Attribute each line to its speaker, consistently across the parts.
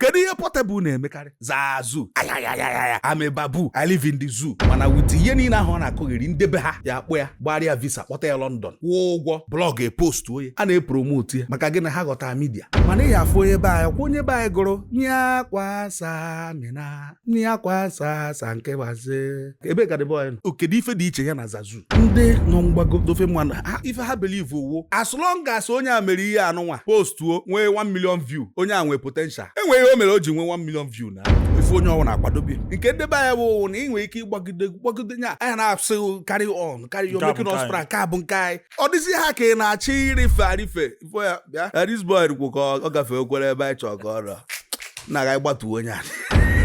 Speaker 1: kedu ihe Portable na-emekarị Zazu ayayayaya I'm a baboon I live in the zoo mana with ihe niile ahụ ọ na-akọgheri nde be ha ya akpọ ya gbara ya visa kpọta ya London kwụọ ụgwọ blog epost onye a na-epromotu ya maka gịnị ha ghọta media mana ị ya afụ onye be anyị ọkwa onye be anyị gụrụ nye akwa samina nne ya kwa asa asa nke waze ebe ka dịbọ ya nọ kedu ife dị iche ya na zazu ndị nọ mgbago nde ofe mmanụ ife ha believe wụ as long as onye a mere ihe a nụnwa postuo nwee 1 million view onye a nwee potential enwere ihe o mere o ji nwee 1 million view na ife onye ọ wụna akwadobe nke nde be anyị bụ na ị nwere ike ịgbagide gbagide nya anyị na-asị carry on carry on you are making us proud nke a bụ nke anyị ọ dịzi ha ka ị na-achọ ịrịfe arịfe ifo ya bịa this boy kwu ka ọ gafee okwere ebe anyị chọọ ka o ruo na ga gbatuo onye a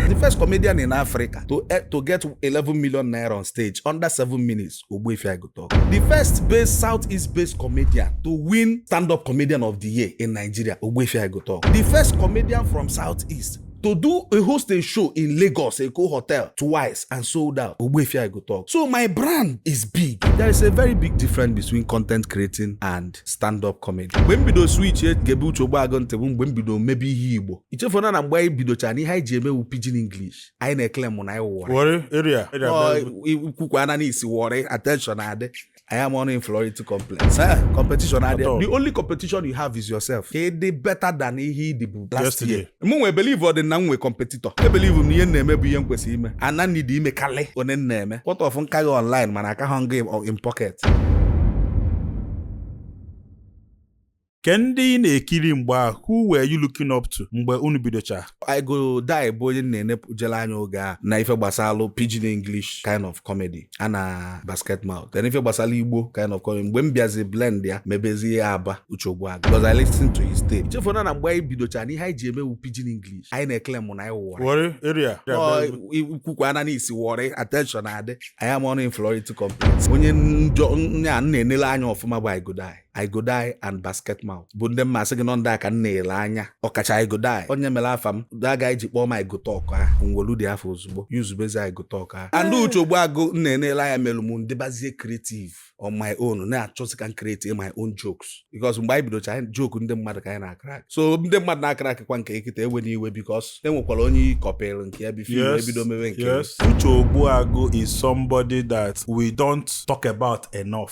Speaker 1: the first comedian in Africa to, eh, to get 11 million naira on stage under 7 minutes Ogbuefi I Go Tuk the first based southeast based comedian to win stand-up comedian of the year in Nigeria Ogbuefi I Go Tuk the first comedian from southeast to do a host a show in Lagos, Eko Hotel twice and sold out. Ogbuefi I Go Tuk. So my brand is big. There is a very big difference between content creating and stand-up comedy. Mgbe m bido switch egebe Uche Ogbuagu ntị bụ mgbe m bido mebe ihe Igbo. Ichefuna na mgbe anyị bidocha na ihe anyị ji eme wụ pidgin English. Anyị na-eclaim na anyị wụ Warri. Warri
Speaker 2: area. I
Speaker 1: kwukwana na i si Warri attention adị. Anyị ama nụ inferiority complex. Eh, competition adị. The only competition you have is yourself. Ka ị dị better than ihe ị dịbu last year. Mụnwa ebelieverọdị na m nwe competitor. Ebelieve m na ihe m na-eme bụ ihe m kwesịrị ime. Ana m needi ime karị one m na-eme. What of m ka gị online mana akahọ m gị in pocket.
Speaker 2: kee ndị ị na-ekiri mgbe ahụ who were you looking up to mgbe unu bidocha I Go Dye
Speaker 1: bụ onye m na-enepụjela anya oge a na ife gbasalụ pidgin English kind of comedy ya na Basketmouth then ife gbasalụ Igbo kind of comedy mgbe m bịazi blend ya mebezie ya abụ Uche Ogbuagu because I listen to his tape chefuna na mgbe anyị bidocha na ihe anyị ji eme wụ pidgin English anyị na-eclaim na anyị wụ Warri Warri
Speaker 2: area i
Speaker 1: kwukwana na i si Warri attention adị anyị ama nụ inferiority complex onye onye a m na-enele anya ọfụma bụ I Go Dye I Go Dye and Basketmouth bụ ndị masị gị no ndị a ka m na-ele anya ọkacha I Go Dye onye mere afa m aga iji kpọọ m I Go Tuk ahụ m wolu dị afa ozugbo usebezi I Go Tuk ahụ and Uche Ogbuagu m na-enele anya mere m dịbazie creative on my own na-achọzi ka m create my own jokes because mgbe anyị bidocha joke ndị mmadụ ka anyị na-acrack so ndị mmadụ na-acrack kwa nke ị kịta ewena iwe because e nwekwara onye ị copyrị nke ya before i bido mewe nke Uche Ogbuagu
Speaker 2: is somebody that we don't talk about enough